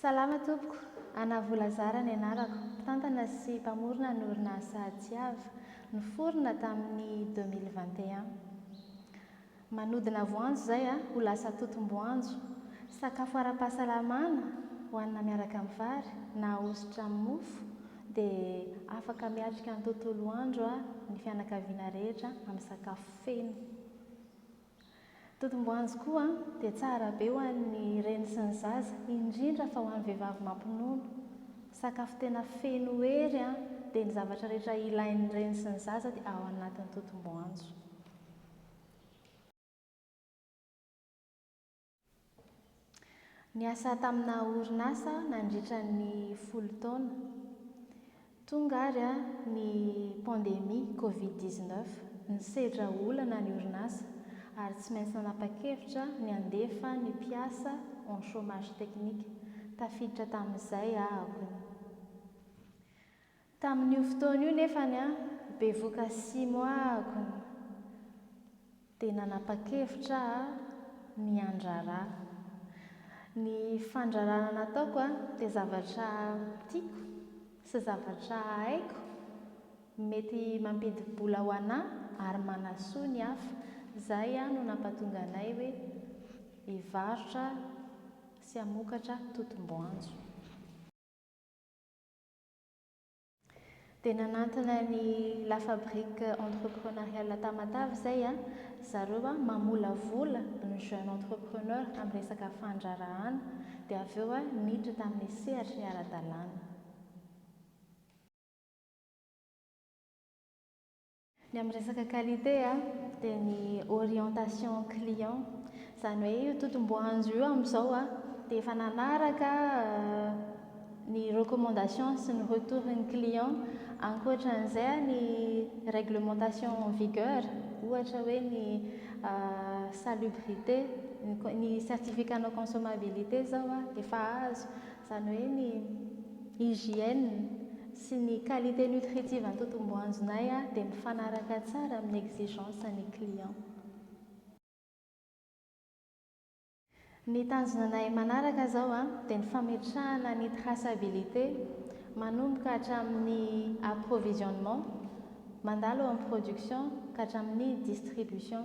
Salama tompoko, Anna Volazara ny anarako, mpitantana sy mpamorona ny orinasa Tiava, niforona tamin'ny deux mille vingt et un. Manodina voanjo izay a, ho lasa totom-boanjo. Sakafo ara-pahasalamana, hohanina miaraka amin'ny vary, na ahosotra amin'ny mofo, dia afaka miatrika ny tontolo andro ny fianakaviana rehetra amin'ny sakafo feno. Totom-boanjo koa dia tsara be ho an'ny reny sy ny zaza, indrindra fa ho an'ny vehivavy mampinono. Sakafo tena feno hery dia ny zavatra rehetra ilain'ny reny sy ny zaza dia ao anatin'ny totom-boanjo. Niasa tamina orinasa nandritra ny folo taona. Tonga ary ny pandemia covid dix-neuf. Nisedra olana ny orinasa ary tsy maintsy nanapa-kevitra ny handefa ny mpiasa en chômage technique. Tafiditra tamin'izay aho. Tamin'io fotoana io nefany an, bevoka sy moagony dia nanapa-kevitra aho ny handrara. Ny fandrarana nataoko dia zavatra tiako sy zavatra haiko mety mampidi-bola ho anà ary manasoa ny hafa. Izay no nampatonga anay hoe hivarotra sy hamokatra totom-boanjo. Dia nanantona ny La Fabrique Entrepreneuriale Tamatave izay an, zareo mamolavola ny jeune entrepreneur amin'ny resaka fandraharahana, dia avy eo niditra tamin'ny sehatry ny ara-dalàna. Ny amin'ny resaka qualité dia ny orientation client, izany hoe io totom-boanjo io amin'izao dia efa nanaraka ny recommandation sy ny retour ny client, ankoatra an'izay ny réglementation en vigueur ohatra hoe ny salubrité, ny certificat non consommabilité izao efa azo. izany hoe ny hygiène sy ny qualité nutritive antotom-boanjonay dia mifanaraka tsara amin'ny exigence ny client. Ny tanjona anay manaraka izao dia ny fametrahana ny traçabilité manomboka hatramin'ny approvisionnement mandalo eo amin'ny production ka hatramin'ny distribution.